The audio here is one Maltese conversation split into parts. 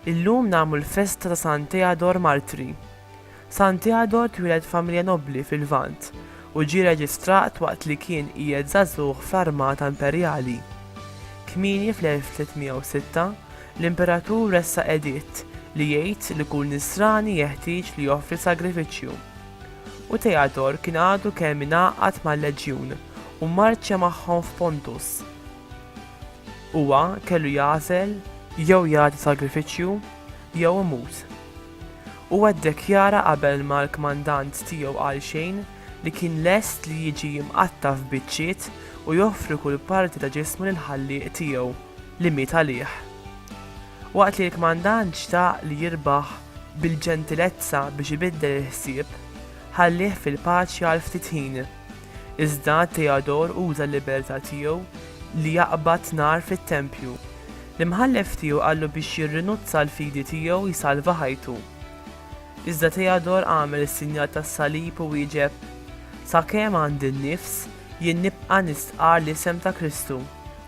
Illum nagħmlu l-festa ta' San Teodor Martri. San Teodor twieled familja nobbli fil-Lvant u ġie reġistrat waqt li kien qiegħed żagħżugħ fl-armata imperjali. Kmieni fl-1306, L-Imperatur ressaq editt li jgħid li kull Nisrani jeħtieġ li joffri sagrifiċċju. U Theadore kien għadu kemm ingħaqad mal-leġjun u mmarċja magħhom f'Pontus. Huwa kellu jagħżel jew jagħti sagrifiċċju jew imut. Huwa ddekjara qabel ma l-kmandant tiegħu qal xejn li kien lest li jiġi mqatta' f'biċċiet u joffri kull parti ta' ġismu lill-Ħallieq tiegħu. li miet għalih. Waqt li l-kmandant xtaq li jirbaħ bil-ġentilezza biex ibiddel il-ħsieb, ħallieh fil-paċi għal ftit ħin. Iżda Theodore uża l-libertà tiegħu li jaqbad nar fit-tempju. L-imħallef tiegħu qallu biex jirrinuzza għall-fidi tiegħu jsalva ħajtu. Iżda Theodore għamel is-sinjal tas-salib u wieġeb, Sakemm għandi n-nifs, jien nibqa' nistqarr l-isem ta' Kristu.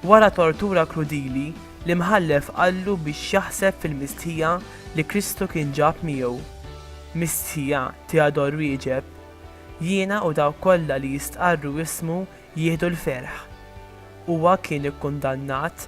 Wara tortura krudili, l-Imħallef qallu biex jaħseb fil-mistħija li Kristu kien ġab miegħu. Mistħija, Theodore wieġeb, jiena u dawk kollha li jistqarru ismu jieħdu l-ferħ. Huwa kien ikkundannat